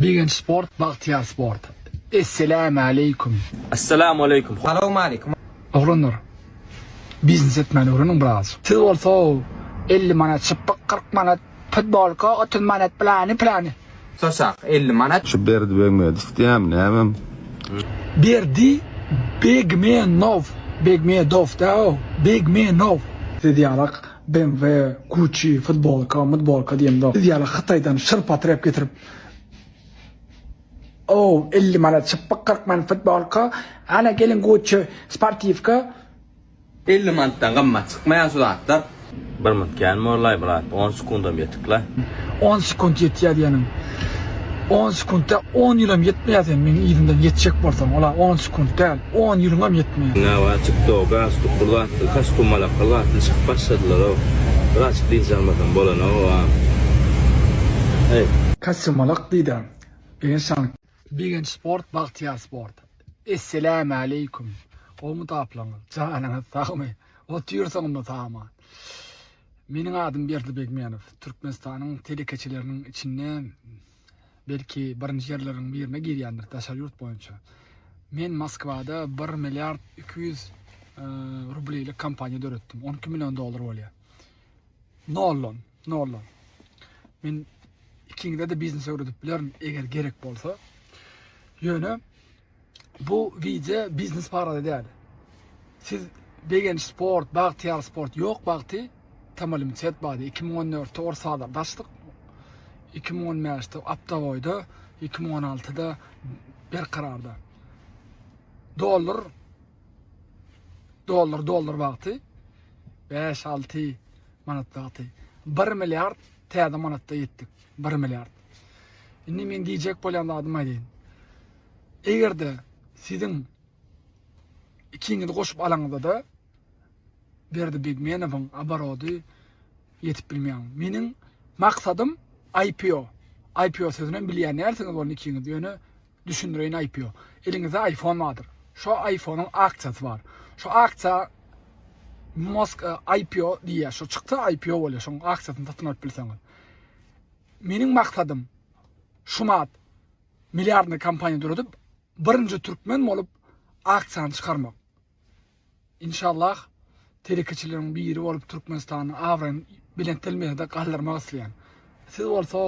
Begenç sport bagtyýar sport. Esselamualeýkum. Esselamualeýkum. Salowmaleýkum. Oglanlar biznes etmäni öwreniň biraz. Siz bolsa elli manat çypyk kyrk manat futbolka otuz manat plany plany. Saçak elli manat. Şu Berdi Begmedow diýýämi nämem? Berdi Begmenow Begmedow däl o Begmenow. Siz ýalak BMW, Gucci, futbolka, mutbolka diýemzok. Siz ýala Hytaýdan şyrpa tirep getirip Ow, elli manat çypyk, kyrk manat futbolka, ana gelin Gucci sportiwka. Elli manatdan gymmat çykmaýar şu zatlar. Bir minut kän mollaý brat on sekundam ýetikle. On sekunt ýetýär diýeniň on sekuntda on ýylam ýetmeýär sen meň yzymdan ýetjek bolsaň ola on sekunt däl. On ýylyňam ýetmeýär. Nä bar tiktok galstuk bir zatly kastýumalak bir zatly çykyp başladylarow bir açyp dynç almasam bolanoga eý. Kastýumalak diýda Begenç han. Begenç sport bagtyýar sport. Esselämaleýkum! Gowmy taplaňyz? Janyňyz sagmy? Otyrsyňmy saman? Meniň adym Berdi Begmenow. Türkmenistanyň telekeçileriniň içinde. belki birinji ýerleriň birine girýändir daşary ýurt boýunça. Men Moskwada 1 milliard 200 rublýlik kompaniýa döretdim. 12 million dollar bolýar. Nollon, nollon. Men ikiňde de biznes öwredip bilerin eger gerek bolsa. Ýöne Bu wideo biznes barada däl. Siz begenç sport, bagtyýar sport ýok wagty Tamalim Çet bady 2014-de ors bazarda açdyk. 2015-de Aptagoýda, 2016-da Berkararda. Dollar dollar dollar wagty 5-6 manat wagty 1 milliard täze manatda ýetdik. 1 milliard. Indi men diýjek bolýan zadym aýdýan. Eger-de siziň ikiňizi goşup alanyňyzda-da Berdi Begmenowyň oborody ýetip bilmeýär. Meniň maksadym IPO. IPO sözünem bilýän dälsiňiz bolny ikiňiz, ýöne düşündireýin IPO. Eliňizde iPhone bardyr. Şo iPhone-yň aksiýasy bar. Şo aksiýa Musk e, IPO diýýär. Şo çyksa IPO bolýar. Şoň aksiýasyny satyn alyp bilseňiz. Meniň maksadym şumat Milliardny kompaniýa döredip birinji türkmen bolup aksiýany çykarmak. Inşallah telekeçileriň biri bolup Türkmenistanyň abraýyny belent dermejede galdyrmak isleýän. Siz bolsa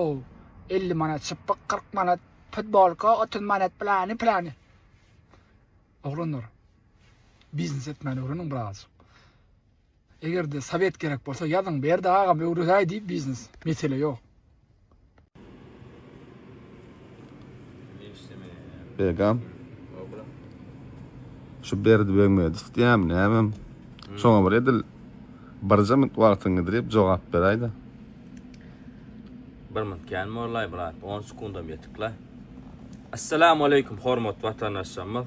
50 manat çypyk 40 manat futbolka 30 manat plany plany. Oglanlar biznes etmäni öwreniň birazjyk. Egerde sowet gerek bolsa ýazyň Berdi agam öwredäý diýip biznes. Mesele ýok. Begam. Şu Berdi Begmedow diýämi nämem. Şoňa bir edil birje minut wagtyň gidrip jogap beräýdä. Bir minut kän mollaý brat, on sekundam ýetik la. Assalamu aleýkum hormatly watandaşlarymyz.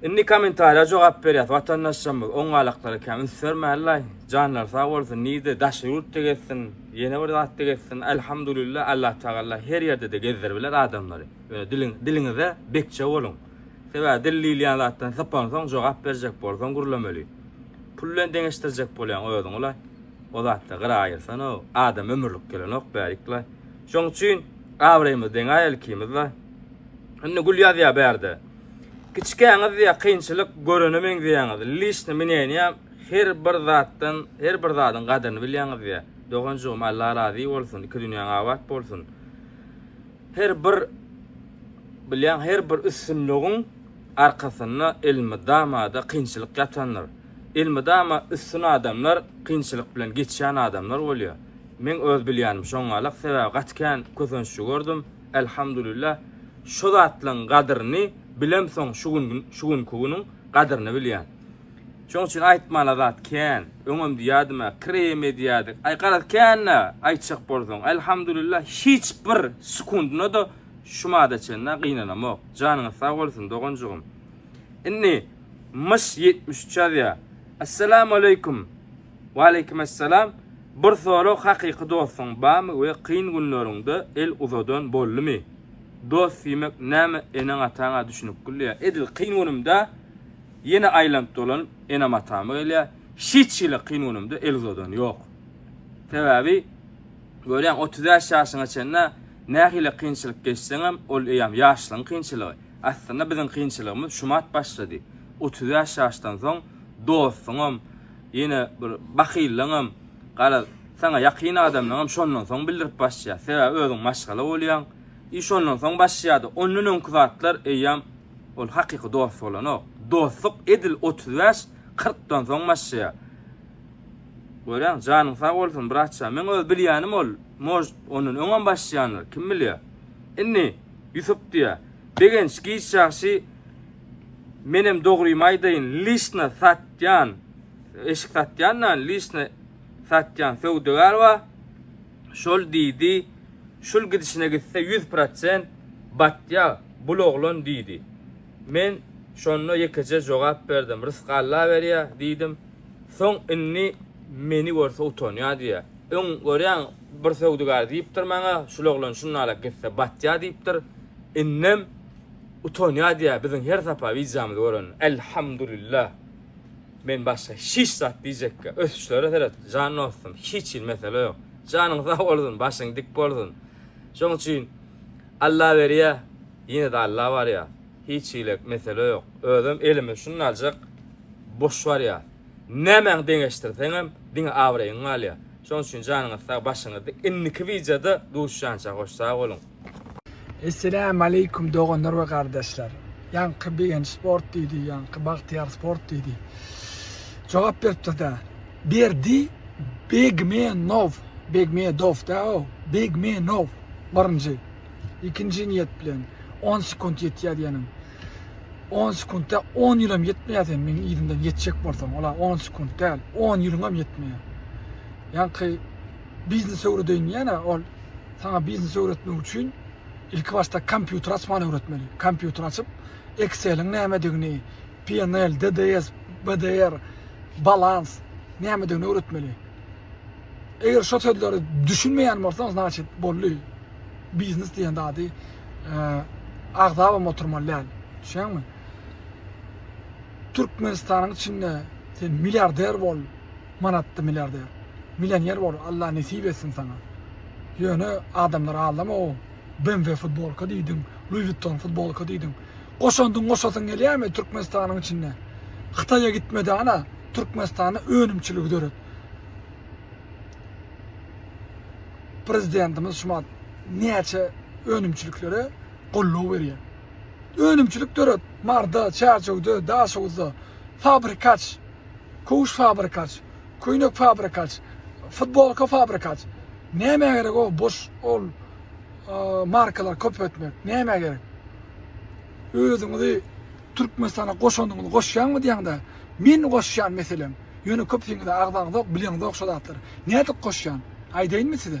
Indi komentariýa jogap berýäs watandaşlarymyz oň galaklara kän üns bermälilaý janlary sag bolsun nirde daşary ýurtda gezsin ýene bir zatda gezsin Alhamdulillah Allah Tagalla her ýerdede gezdirbiler adamlary ýöne diliň diliňize bekje boluň sebäbi dil diýilýän zatdan sypansoň jogap berjek bolsaň gürlemeli pul bilen deňeşdirjek bolýaň özüňi laý o zatda gyra aýyrsanoo adam ömürlik gelenok bärikla Şoň üçin abraýymyz deňä ilkimizde. Indi gül ýazýa bärde. Kiçikäňiz diýä kynçylyk görene meňzeýäňiz. Lişni mineniýa her bir zatdan, her bir zadyň gadyryny bilýäňiz diýä. Doganjygym Allah razy bolsun, iki dünýäň abat bolsun. Her bir bilýän her bir üstünligiň arkasynda elmydama-da kynçylyk ýatandyr. Elmydama üstün adamlar kynçylyk bilen geçýän adamlar bolýar. Meň öz bilýänim şoňňalak sebäbi gaty kän kösenççi gördüm Elhamdulillah şo zatlaň gadyryny bilemsoň şu gün şu günki günüň gadyryny bilýän şoň üçin aýtmala zat kän öňem diýädimä krem edýädik aý garaz känä aýtjak bolsaň Elhamdulillah hiç bir sekundynada şu mada çenlä gynanamok janyňyz sag bolsun doganjygym indi myş ýetmiş üç ýazýa Essalamu aleykum Waleykimessalam Bir sorag hakyky dostuň bamy we kyn günleriňde el uzadan boldumy? Dost diýmek näme eneň ataňa düşünikgil diýä edil kyn günümde ýene aýlanyp dolanyp enem atama gelýä hiç hili kyn günümde el uzadan ýok sebäbi görýäň otuz bäş ýaşyňa çenlä nähili kynçylyk geçseňem ol eýýam ýaşlygyň kynçylygy aslynda biziň kynçylygymyz şumat başlady otuz bäş ýaşdan soň dostuňam Ýene bir bahyllygyňam, garaz, saňa ýakyn adamlaryňam şondan soň bildirip başlaýar. Sebäbi özüň maşgala bolýaň. I şondan soň başlaýardy. Ondan öňki zatlar eýýäm ol hakyky dost bolanok. Dostluk edil otuz bäş, kyrkdan soň başlaýar. Görýäňmi? Janyň sag bolsun, brat jan. Meň öz bilýänim ol, может, ondan öňem başlaýandyr, kim bilýär. Indi Ýusup diýýär. Begenç giç ýagşy Menem dogrymy aýdaýyn lişna satýan eşik satýan da lişna satýan söwdagär ba şol diýdi şul gidişine gitse ýüz prosent batýa bul oglan diýdi men şonda ýekeje jogap berdim rysk alla berýä diýdim soň indi meni görse utanýa diýä öň görýäň bir söwdagär diýipdir maňa şul oglan şunalak gitse batýa diýipdir indem Utanýa diýýä biziň her sapa wideomyzy görende Elhamdulillah men başga hiç zat diýjekkä ösüşlere seret jan dostum hiç hil mesele ýok janyň sag bolsun başyň dik bolsun şoň üçin Alla berýä ýene-de Alla barýa hiç hile mesele ýok özem elimiz şunnaljyk boş barýa nämäňi deňeşdirseňem diňe abraýyň galýa şoň üçin janyňyz sag başyňyz dik indiki wideoda duşýança hoş sag boluň. Esselämu aleýkum doganlar we gardaşlar. Ýaňky begenç sport diýdi, ýaňky bagtyýar sport diýdi. Jogap beripdir-dä. Berdi Begmenow, Begmedow dä o, Begmenow birinji. Ikinji niýet bilen on sekunt ýetýär diýenim. On sekuntda on ýylam ýetmeýär sen meniň yzymdan ýetjek bolsaň, ola on sekunt däl, on ýylyňam ýetmeýär. Ýaňky Biznes öwredeýin diýýän-ä, ol saňa biznes öwretmek üçin ilki başda kompýuter açmany öwretmeli. Kompýuter açyp, Excel-iň nämedigini, PNL, DDS, BDR, balans nämedigini öwretmeli. Eger şo sözleri düşünmeýän bolsaň, znaçit boldy. Biznes diýen zady agzabam oturmaly däl. Düşýäňmi? Türkmenistanyň içinde sen milliarder bol, manatdy milliarder millioner bol Allah nesip etsin saňa ýöne adamlar aldama o BMW futbolka diýdiň Louis Vuitton futbolka diýdiň goşandyň goşasyň gelýärmi Türkmenistanyň içinde Hytaýa gitmede ana Türkmenistanda önümçiligi döret prezidentimiz şumat näçe önümçiliklere golluw berýär. Önümçilik döret, Marda, Çärjewde, Daşoguzda, fabrikaç Kowuş fabrikaç, köýnek fabrikaç, futbolka fabrikaç. Nämä gerek o boş ol markalary köpeltmek? Nämä gerek? Özüňizi Türkmenistana goşanyňyzy goşýaňmy diýäňde, men goşýan meselem. Ýöne köpüsiňize agzaňyzok, bileňizok şo zatlary. Nädip goşýan? Aýdaýynmy size?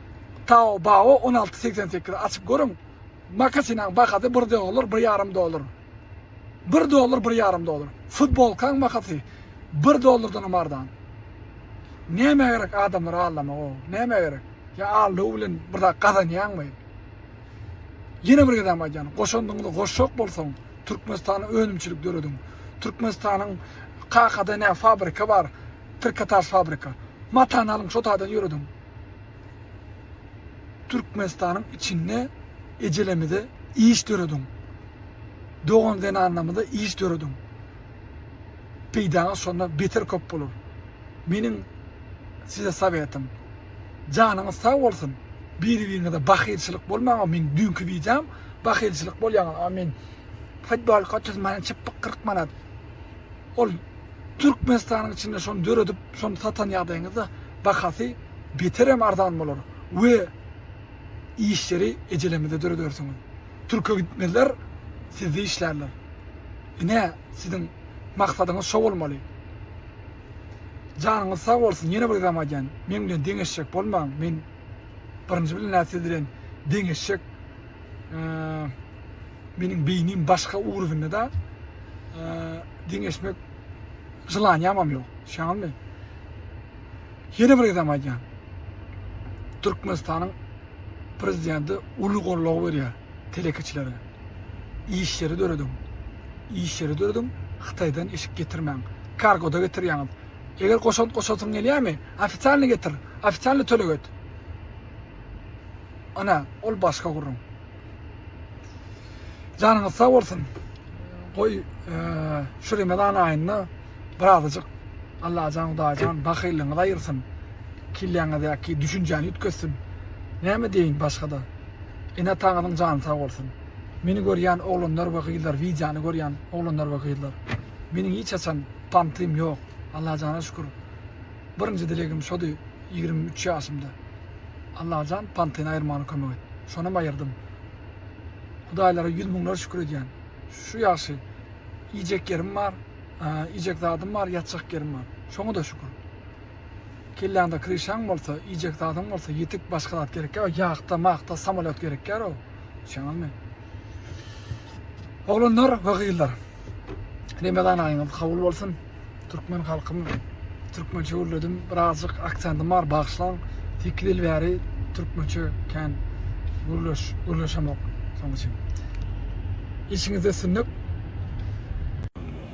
Taobao on alty segsen sekiz açyp görüň makasinaň bahasy bir dollar bir ýarym dollar bir dollar bir ýarym dollar futbolkaň makasy bir dollardanam arzan nämä gerek adamlary aldamak o nämä gerek ýa aldaw bilen bir zat gazanýaňmy ýene bir gezem aýdýan goşandyňyzy goşjak bolsaň türkmenistana önümçilik dörediň türkmenistanyň kakada nä fabrika bar trikotaž fabrika matany alyň şo taýdan ýörediň Türkmenistanyň içinde ejelemize iş dörediň. Dogan zenanlamyza iş dörediň. Peýdaňyz şonda beter köp bolar. Meniň size sawetim. Janyňyz sag bolsun. Biri-biriňize bahylçylyk bolmaň-a meň düýnki wideom bahylçylyk bolýaňyz amin. Futbolka otuz manat çypyk kyrk manat. Ol Türkmenistanyň içinde şony döredip, şony satan ýagdaýyňyzda bahasy beterem arzan bolar we işleri ejelemizde döredersiňiz. Türke gitmezler, sizde işlärler. Ine, siziň maksadyňyz şo bolmaly. Janyňyz sag bolsun, ýene bir gezegem aýdýan, meň bilen deňeşjek bolmaň, men birinji bilen-ä siz bilen deňeşjek meniň beýnim başga ugrubynda da deňeşmek jylanýamam ýok. Şaňmy? Ýene bir gezem aýdýan. Türkmenistanyň prezidenti uly gollag berýär telekeçilere. Işleri dörediň. Işleri dörediň, Hytaýdan eşik getirmäň. Kargoda getirýäňiz. Eger goşant goşasyň gelýärmi, ofitsialny getir, ofitsialny töleg et. Ana, ol başga gürrüň. Janyňyz sag bolsun. Goý, e, şu Remezan aýynda birazajyk Allajan Hudaýjan bahyllygyňyzy aýyrsyn. Kelläňizdäki düşünjäni üýtgetsin. Näme diýeýin başga-da? Ene-ataňyzyň jany sag bolsun. Meni görýän oglanlar we gyzlar, wideony görýän oglanlar we gyzlar. Meniň hiç haçan pantym ýok. Allajana şükür. Birinji dilegim şody. Ýigrimi üç ýaşymda. Allajan pantyny aýyrmana kömek et. Şonam aýyrdym. Hudaýlara ýüz müňler şükür edýän. Şu ýagşy. Iýjek ýerim bar, iýjek zadym bar, ýatjak ýerim bar. Şoňa-da şükür. Kelläňde kryşaň bolsa, iýjek zadyň bolsa ýetik başga zat gerekýär. Ýahta-mahta samolýot gerekýär-ow. Düşýäňizmi? Oglanlar we gyzlar. Remezan aýyňyz kabul bolsun. Türkmen halkym türkmençe gürledim. Birazjyk aksentim bar, bagyşlaň. 8 ýyl bäri türkmençe kän gürleş, gürleşemok. Şonuň üçin. Işiňizde üstünlik.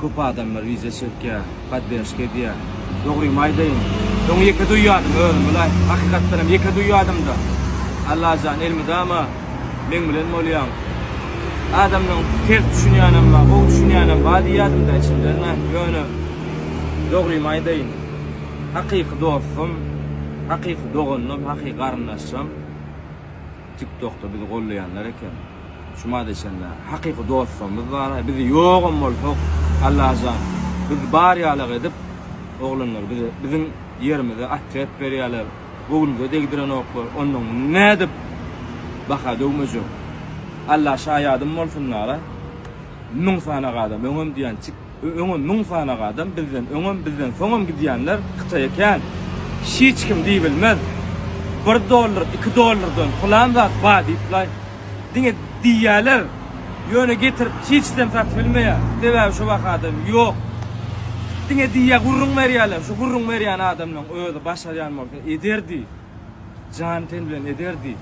Köp adamlar wiza çekýär, poddержка edýär. Dogrymy aýdaýyn, öň ýeke duýýardym özüm, ýöne hakykatdanam ýeke duýýardym-da. Allajan elmydama meň bilen bolýaň. Adamdan ters düşünýänem bar, gowy düşünýänem bar diýýärdim-de içimden, ýöne dogrymy aýdaýyn, hakyky dostum, hakyky doganym, hakyky garyndaşym TikTokda bizi gollaýanlar eken. Şuma deşenle hakyky dostlarymyz bar, biz ýogam bolsak Allajan biz bar ýalak edip oglanlar bize biziň ýerimize otrýad berýäler, bu günüze degdirenoklar, ondan nädip baha döwmejek. Alla şaýadym bolsun lara müň sanaga adam öňem diýen çik. Öňem müň sanag adam bizden öňem bizden soňam gidýänler hytaýa kän hiç kim diýbilmez bir dollar iki dollardan pylan zat bar diýplaý diňe diýýäler ýöne getirip hiçdem satybilmeýä sebäbi şu bahadam ýok diňe diýýä gürrüň berýäler şu gürrüň berýän adamlaň özi başarýan bolsa ederdi. Jan-ten bilen ederdi.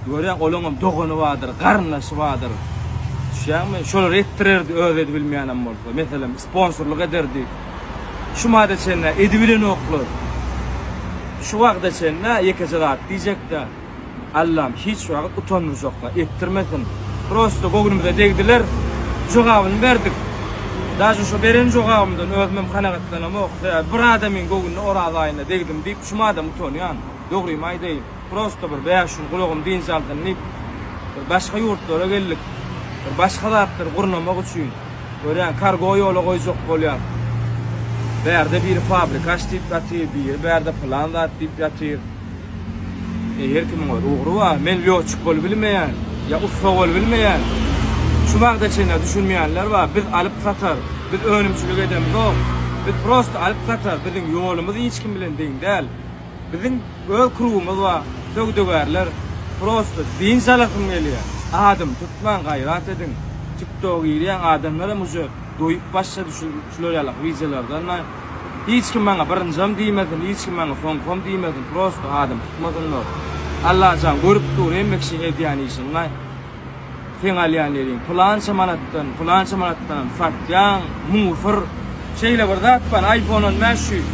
Görýäň, olaňam dogany bardyr, garyndaşy bardyr. Düşýäňmi? Şolar etdirerdi, özi edibilmeýänem bolsa. Meselem, sponsorlyk ederdi. Şu mada çenli edibilenoklar. Şu wagta çenli ýekeje zat diýjek-dä. Allam hiç wagt utandyrjaklar etdirmesin. Prosta göwnümize degdiler. Jogabyny berdik. Daže şo beren jogabymdan özümem kanagatlanamok. Sebäbi bir adamyň göwnüne Oraz aýynda degdim diýip şum adam utanýan. Dogrymy aýdaýyn. Prosta bir bäş gün gulagym dynç alsyn diýip bir başga ýurtlara geldik. Bir başga zatlary gurnamak üçin. Görýän kargo ýola goýjak bolýar. Bärde biri fabrika aç diýip ýatyr, biri bärde pylan zat diýip ýatyr. E her kimiň öz ugry bar. Men lýotçik bolup bilmeýän, ýa ussa bolup bilmeýän. Şu wagta çenli düşünmeýänler bar. Biz alyp satar, biz önümçilik edemzok. Biz prosta alyp satar, biziň ýolumyz hiç kim bilen deň däl. Biziň öz krugymyz bar, söwdagärler. Prosta dynç alasym gelýär. Adymy tutmaň, gaýrat ediň. Tiktoga girýäň, adamlar hem uje doýup başlady şular ýaly wideolardan. Hiç kim maňa birinjam diýmesin, hiç kim maňa soňkam diýmesin, prosta adam tutmasynlar. Allajan görüp dur hemme kişi edýän işiňi. Seň alýan neriň pylança manatdan, pylança manatdanam satýaň, musyr. Şeýle bir zat bar, iPhone on bäş ýüz.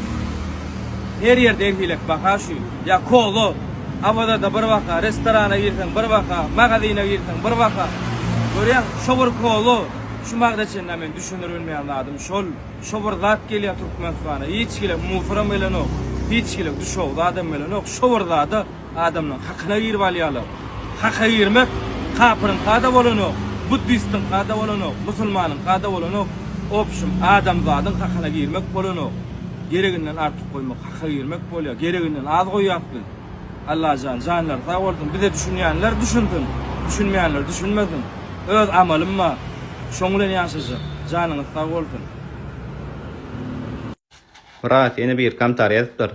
Her ýerde her hili baha şu. Ýa kola, Awazada bir baha, restorana girseň bir baha, magazine girseň bir baha. Görýäňmi? Şu bir kola, şu magda çenli men düşündirip bilmeýän zadym şol. Şo bir zat gelýär Türkmenistana hiç kile musoram gelenok hiç kile düşewüz adam gelenok şo bir zada adamlaň hakyna girip alýalar haka girmek kapyryňkada bolanok buddistiňkada bolanok musulmanyňkada bolanok obşim adamzadyň hakyna girmek bolanok gereginden artyk goýmak haka girmek bolýar gereginden az goýýas biz Allajan janlary sag bolsun bize düşünýänler düşünsin düşünmeýänler düşünmesin. Öz amalym bar. Şoň bilen ýaşajak. Janyňyz sag bolsun. Brat ýene bir komtar ýazypdyr.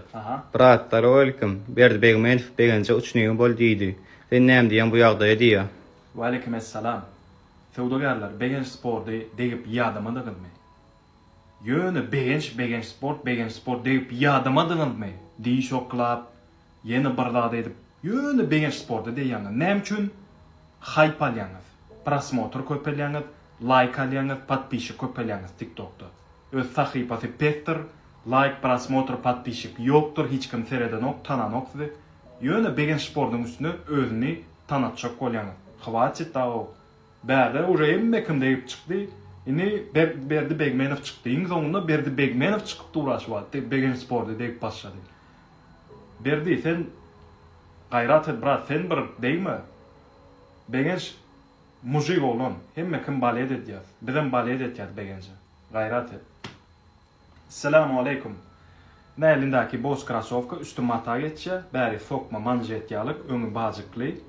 Brat salowalikim Berdi Begmenow begenje uçnigi bol diýdi. Sen näme diýýäň bu ýagdaýa diýýä. Waleýkim essalam. Söwdagärler Begenç sporty degip ýadamadyňyzmy? Ýöne Begenç Begenç sport Begenç sport degip ýadamadyňyzmy? Diýiş oklap Ýene bir zat edip ýöne begenç sporty diýýäňiz näme üçin haýp alýaňyz prosmotr köpelýäňiz laýk alýaňyz podpişik köpelýäňiz tiktokda öz sahypasy pesdir laýk prosmotr podpişik ýokdyr hiç kim seredenok tananok sizi ýöne begenç sportyň üstüne özüni tanatjak bolýaňyz hwatit dagow bärde uje hemme kim degip çykdy ini berdi begmenow çykdy iň soňunda berdi begmenow çykyp dur aşyp atdy begenç sporty degip başlady Berdi sen gaýrat et brat sen bir degme Begenç mujik oglan hemme kim balet edýas bizem balet etýas Begenje gaýrat et. Esselamu aleýkum. Näelindäki boz krasowka üsti mata geçýä bäri sokma manžet ýaly öňi bajykly.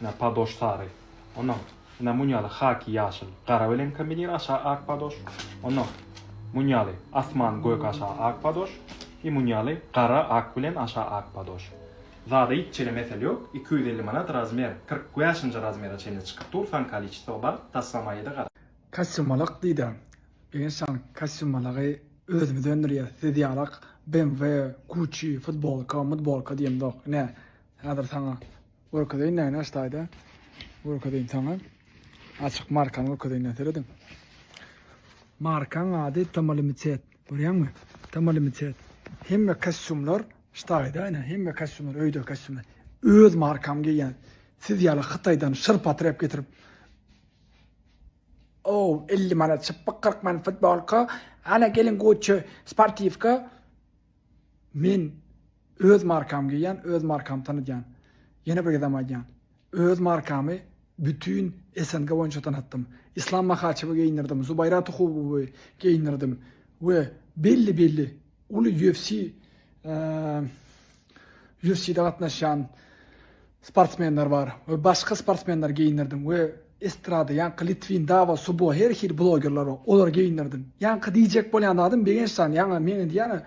Ine, padoş sary. Onnoň, ine, muň ýaly haki ýaşyl, gara bilen kombinir aşa ak padoş. Onnoň, muň ýaly asman gök aşa ak padoş. I muň ýaly gara ak bilen aşa ak padoş. Zada hiç çene mesel ýok. Iki ýüz elli manat razmer. Kyrk bäşinji razmere çenli çykyp dur, san kaliçestow bar, taslamaýyda gara. Kasymalak diýdä. Eger şan kasymalagi özümiz öndürýäs, siz ýalak BMW, Gucci, futbolka, mutbolka diýemzok. Ine, häzir saňa Görkezeýin näne aştaýda görkezeýin saňa açyk markany görkezeýin serediň markaň ady tomalimitet görýäňmi tomalimitet hemme kastýumlar ştaýda ine hemme kastýumlar öýde kastýumlar öz markamy geýýän siz ýaly hytaýdan şyr patyr ep getirip ow elli manat çypyk kyrk manat futbolka ana geliň gucci sportiwka Men öz markamy geýýän, öz markamy tanydýan. Ýene bir gezem aýdýan. Öz markamy bütin SNG boýunça tanatdym. Islam Mahaçewi geýindirdim, Zubaýra Tuhubowy geýindirdim we belli belli uly UFC UFC-de gatnaşýan sportsmenler bar we başga sportsmenleri geýindirdim we estrada ýaňky litwin dawa subo her hili blogerler bar olary geýindirdim ýaňky diýjek bolýan zadym begençjan ýaňa men indi ýana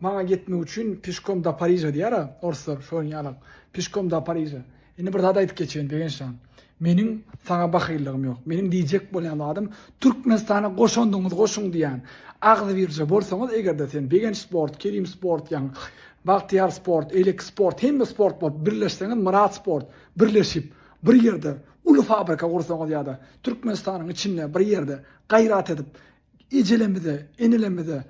maňa ýetmek üçin pişkom da pariža diýýär a orslar şonuň ýalam pişkom da pariža indi bir zat aýdyp geçeýin begençjan Meniň saňa bahyllygym ýok. Meniň diýjek bolýan zadym, Türkmenistana goşandyňyzy goşuň diýýän. Agzybirje bolsaňyz eger-de sen Begenç sport, Kerim sport, ýa Bagtyýar sport, Eýleki sport, hemme sport bolup birleşseňiz, Myrat sport, birleşip, bir ýerde uly fabrika gursaňyz ýa-da Türkmenistanyň içinde bir ýerde gaýrat edip, ejelerimize, enelerimize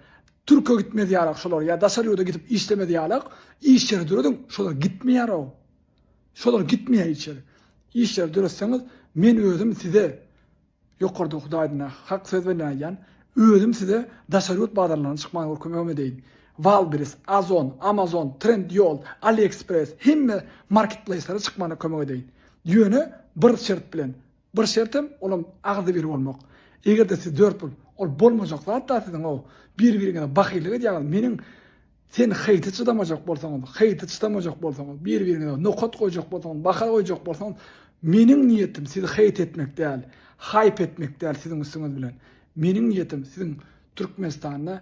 Türke gitmez ýarak şolar ýa daşary ýurda gidip işlemez ýarak iş ýeri dörediň, şolar gitmeýär-ow. Şolar gitmeýär içeri. Işleri döretseňiz, men özüm size, ýokarda Hudaýdyna hak söz bilen aýdýan, özüm size daşary ýurt bazarlaryna çykmagy görkemegimi edeýin. Wildberries, Ozon, Amazon, Trendyol, AliExpress hemme marketplaýslere çykmagyna kömek edeýin. Ýöne bir şert bilen, Bir şertem, olam agzybir bolmak. Eger-de siz dört pul, ol bolmajak zat-da siziň-ow. Bir-biriňize bahyllyk edýäňiz. Meniň Sen heýti çydamajak bolsaňyz, heýti çydamajak bolsaňyz, bir-biriňize nokat goýjak bolsaňyz, baha goýjak bolsaňyz, meniň niýetim sizi heýt etmek däl, haýp etmek däl siziň üstüňiz bilen. Meniň niýetim siziň Türkmenistanda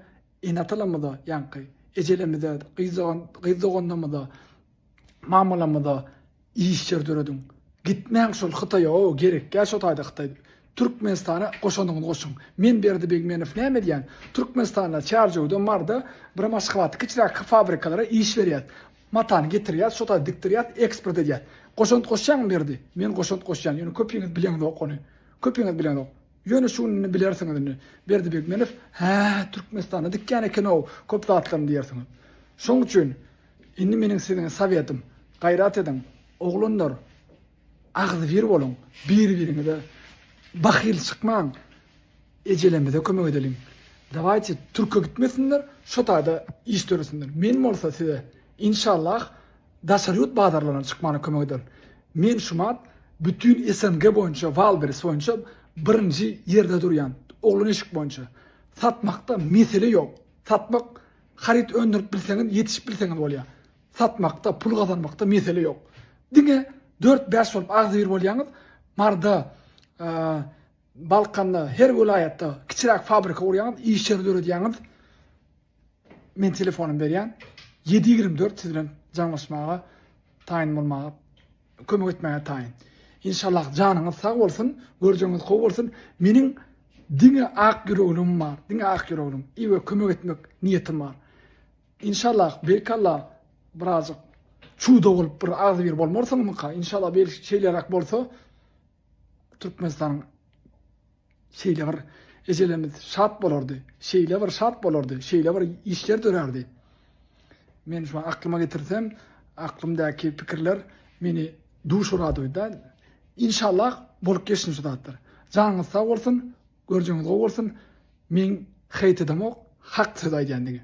ene-atalarymyza ýaňky ejelerimize, gyz dogan, gyz doganlarymyza, Mamalamyza iş ýer dörediň. Gitmäň şol hytaýa ow gerekýä şo taýda hytaý Türkmenistana goşanyňyzy goşuň. Men Berdi Begmenow näme edýän Türkmenistanda Çärjewde Marda bir maşgalaty kiçiräk fabrikalara iş berýäs. Matany getirýäs şo taýda dikdirýäs eksport edýäs. Goşant goşýaňmy Berdi? Men goşant goşýan ýöne köpiňiz bileňzok ony. Köpiňiz bileňzok. Ýöne şu gününi bilersiňiz indi. Berdi Begmenow hää Türkmenistanda dikýän ekenow köp zatlaryny diýersiňiz. Şoň üçin. Indi meniň siziň sowetym, gaýrat ediň, oglanlar, agzybir boluň, bir-biriňize bahyl çykmaň, ejelerimize kömek edeliň. Dawaýte, türke gitmesinler, şo taýda iş döresinler. Men bolsa size, inşallah, daşary ýurt bazarlaryna çykmagyna kömek ederin. Men şumat bütin SNG boýunça Wildberries boýunça birinji ýerde durýan, oglan eşik boýunça. Satmakda mesele ýok. Satmak Haryt öndürip bilseňiz, ýetişip bilseňiz bolýar. Satmakda, pul gazanmakda mesele ýok. Diňe dört-bäş bolup agzybir bolýaňyz, Maryda, Balkanda, her welaýatda kiçiräk fabrika gurýaňyz, iş ýeri döredýäňiz. Men telefonumy berýän. Ýedi ýigrimi dört siz bilen jaňlaşmaga Taýyn bolmaga kömek etmäge taýyn. Inşallah janyňyz sag bolsun, görjeňiz gowy bolsun. Meniň diňe ak ýüreglim bar, diňe ak ýüreglim. I we kömek etmek niýetim bar. Inşallah, beýkalla birazjyk çuda bolup bir agzy bir bolmarsyňmyka? Inşallah bir şeýleräk bolsa Türkmenistanyň Şeýle bir ejelerimiz şat bolardy, şeýle bir şat bolardy, şeýle bir işler dörärdi. Men şu aklyma getirsem, aklymdaky pikirler meni duş uradyda. Inşallah bolup geçsin şu zatlar. Janyňyz sag bolsun, görjüňiz gowy bolsun. Men heýt edemok, hak söz aýdýan diňe.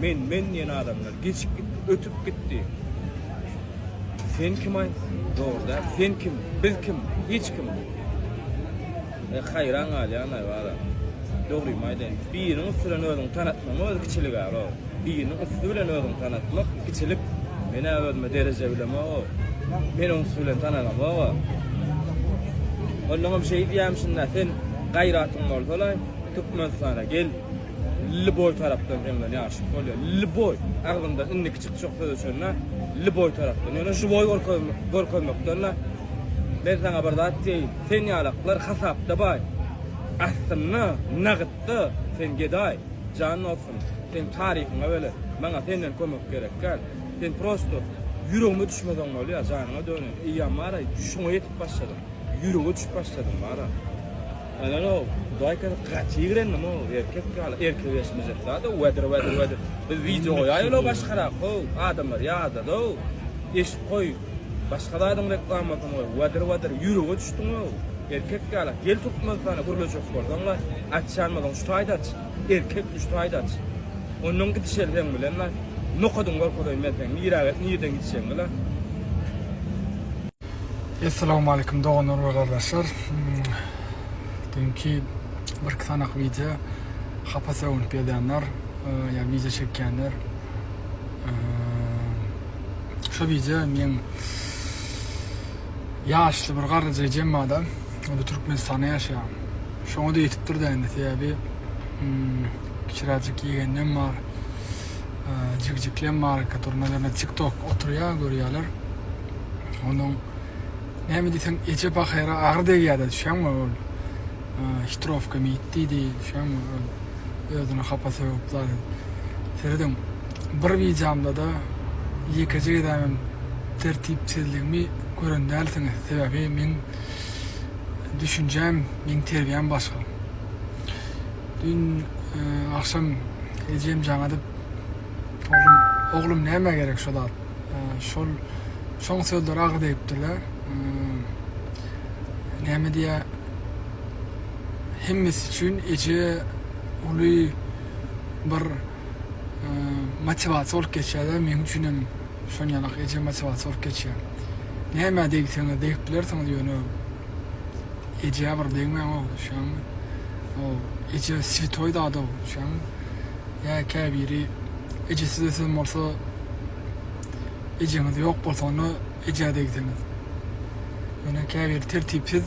Men, men diýen adamlar geçip gitdi, ötüp gitdi. Sen kim aý? Dogry däl. Sen kim? Biz kim? Hiç kim. E, haýran galýan aý bara. Dogrymy aýdaýyn. Biriniň üsti bilen özüňi tanatmagyň özi kiçilik aro. Biriniň üsti bilen özüňi tanatmak kiçilik. Men-ä özüme dereje bilemog-a. Men oň üsti bilen tanalamog-a. Onnoňam şeýdýämişin-dä, sen gaýratyň bolsa-laý, Türkmenistana gel. Lýuboý tarapdan öňden ýaşyp bolýar. Lýuboý agzynda indiki çykjak söz üçin-de lýuboý tarapdan. Ýöne žiwoý görkezmekden-de men saňa bir zat diýeýin. Sen ýalaklar hasapda baý. Aslynda nagytda sen gedaý. Jan dostum, seň taryhyňa bile maňa senden kömek gerek däl. Sen prosto ýüregime düşmeseň bolýar, janyňa döneýin. Eýýäm bara şuňa ýetip başladyň. Ýürege düşüp başladyň bara. Ene-ow, Hudaýka gaty ýigrendim-ow, erkek ýaly erkek eşmejek zat-ow, wedir, wedir, wedir. Biz wideo goýaýyl-ow başgarak, how, adamlar ýadad-ow. Eşip goý, başga zadyň reklamasyny goý, wedir, wedir, ýürege düşdüň-ow. Erkek ýaly, gel Türkmenistana gürleşjek bolsaň-la, açýanmyzyň şu taýda aç, erkek üç taýda aç. Onnoň gidişeli seň bilen-la. Nokadyň bolsa-da men seň nirä, nirden gidişegiňi-la. Essalawmalikim doganlar we gardaşlar düýnki birki sanak wideo hapa sögünip ýazýanlar ýa wideo çekýänler şu wideo meň ýaşly bir garryja jemmada ol türkmenistanda ýaşaýar şoňa-da ýetipdir-dä indi sebäbi kiçiräjik ýegeninem bar jigjiklem barka turnalarynda tik tok oturýa görýäler onuň näme diýseň eje pahyra agyr degýärdi düşýäňmi ol hitrowka mit diýdi düşýäňmi özüni hapa sögüp zat serediň bir wideomda da ýekeje gezäm tertipsizligimi gören dälsiňiz sebäbi meň düşünjäm meň terbiýäm başga. Dün agşam ejem jaň edip, Oglum, oglum nämä gerek şo zat? Şol, şoň sözleri agyr degipdir-dä. Näme diýýä, hemmesi üçin eje uly bir motiwasiýa bolup geçýär-dä, meň üçinem şon ýalak eje motiwasiýa bolup geçýär. Nämä degseňiz degip bilersiňiz ýöne. Ejä bir degmäňow düşýäňmi. Ow eje svitoý zadow düşýäňmi. Ýa käbiri ejesiz ösen bolsa ejeňiz ýok bolsa onda ejä degseňiz. Ýöne käbiri tertipsiz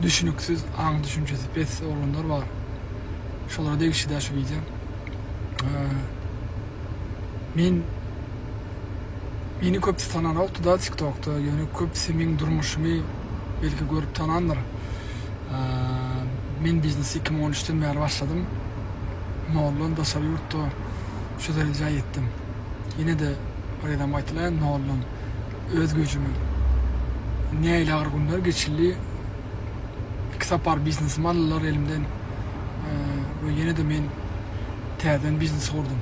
düşüniksiz aň düşünjesi pes oglanlar bar. Şolara degişli däl şu wideo. Men Meni köpüsi tananokdy da tiktokda ýöne köpüsi meň durmuşymy belki görüp tanandyr. Men biznesi iki müň on üçden bäri başladym. Noldan daşary ýurtda şu derejä ýetdim. Ýene-de bir gezegem gaýtalaýyn noldan öz güýjümi. Nähili agyr günler geçildi. Iki sapar biznesimi aldylar elimden we ýene-de men täzeden biznes gurdum.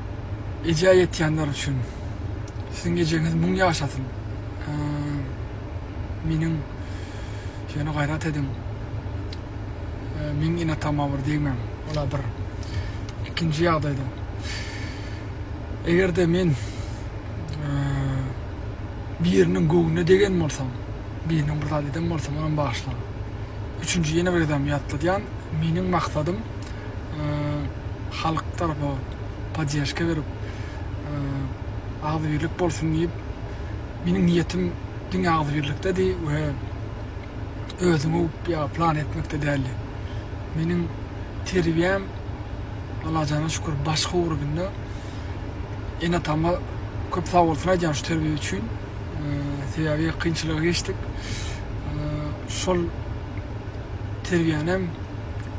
Eje ýetýänler üçin siziň ejeňiz müň ýaşasyn meniň ýöne gaýrat ediň meň enatama bir degmäň ola bir ikinji ýagdaýda egerde men biriniň göwnüne degen bolsam birine bir zat eden bolsam onam bagyşlaň üçünji ýene bir gezegem ýatladýan meniň maksadym halk tarapa poddežka berip agzybirlik bolsun diýip meniň niýetim diňe agzybirlikdedi we özüňi öwüp ýa plan etmekde däldi. Meniň terbiýäm Allajana şükür başga ugrubynda ene-atama köp sagbolsun aýdýan şu terbiýe üçin sebäbi kynçylygy geçdik şol terbiýänem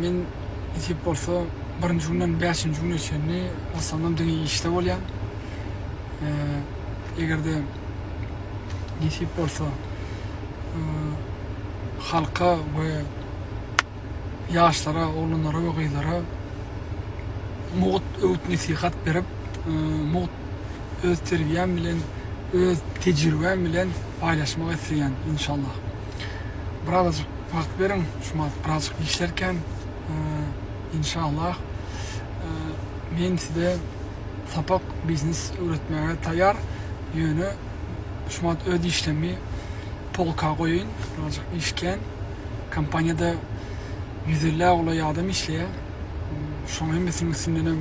Men nesip bolsa birinji günden bäşinji güne çenli gyssandan diňe işde bolýan. Egerde nesip bolsa halka we ýaşlara, oglanlara we gyzlara mugt öwüt-nesihat berip, mugt öz terbiýäm bilen, öz tejribäm bilen paýlaşmak isleýän inşallah. birazajyk wagt beriň şu malat birazajyk işlerken inşallah men size sapak biznes öwretmäge taýýar ýöne şu malat öz işlemi polka goýaýyn birazajyk iş kän kompaniýada ýüz elli golaý adam işleýär şoň hemmesiniň üstündenem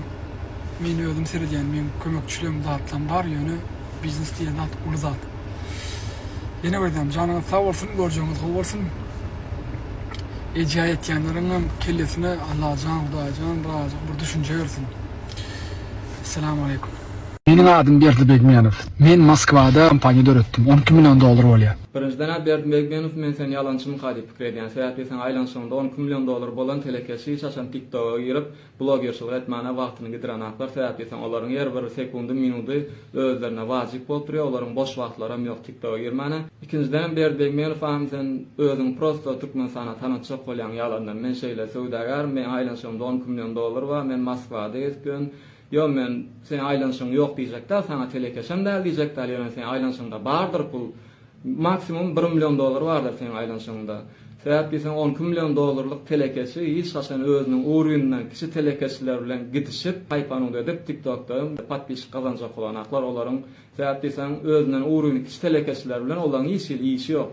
men özüm seredýän meň kömekçiligim zatlam bar ýöne biznes diýen zat uly zat. Ýene aýdýan janyňyz sag bolsun görjegiňiz gowy bolsun. Eje aýtýanlaryňam kellesine Allajan Hudaýjan razyk bir düşünje bersin. Essalamu Aleýkum. Meniň adym Berdi Begmenow. Men Moskwada kompaniýa döretdim. On iki million dollar bolýar. Birinjiden-ä Berdi Begmenow men seni ýalançymyka diýip pikir edýän. Sebäpli sen aýlanyşygyňda on iki million dollar bolan telekeçi hiç haçan TikToga girip Blogerçylyk etmäne wagtyny gidirenaklar sebäpli sen olaryň her bir sekundy minudy özlerine wajyp bolup durýa olaryň boş wagtlaram ýok tiktoga girmäne ikinjidenem Berdibeýmelow agam sen özüňi prosto Türkmenistana tanatjak bolýaň ýalandan men şeýle söwdagärim meň aýlanyşygymda on iki million dollar bar men Moskwada gezip ýörün ýo men seň aýlanyşygyň ýok diýjek däl saňa telekeçem däl diýjek däl ýöne seň aýlanyşygyňda bardyr pul Maksimum bir million dollar bardyr seň aýlanyşygyňda. Sebäp diýseň on iki million dollarlyk telekeçi hiç haçan özüniň urwininden kiçi telekeçiler bilen gidişip haýpanyňda edip tik tokda podpişik gazanjak bolanaklar olaryň sebäp diýseň özünden urwini kiçi telekeçiler bilen olaň hiç hili işi ýok.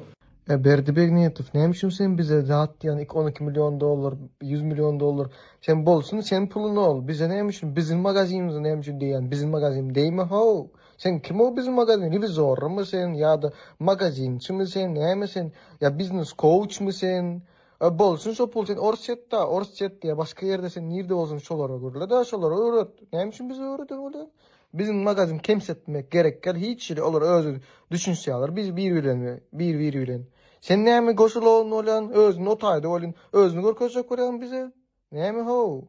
Ýa Berdi Begniýetow näme üçin sen bize zat diýýän ik on iki million dollar ýüz million dollar sen bolsun sen puluny ol bize näme üçin biziň magazinimize näme üçin deýýän biziň magazin deýme how. Sen kimow biz magazin revizorrymy sen ýada magazinçimi sen näme sen ýa biznes kouçmy sen e bolsun şo pul sen orsýetda orsýet ýa başga ýerde sen nirde bolsaň şolara gürleda şolara öwret näme üçin bize öwrede bolýan biziň magazin kemsetmek gerek ýal hiç ýeri olar özi düşünşýaler biz bir bilen bir bir bilen sen näme goşulown bolýan özüni o taýda bolýan özüni görkezjek bolýan bize näme how.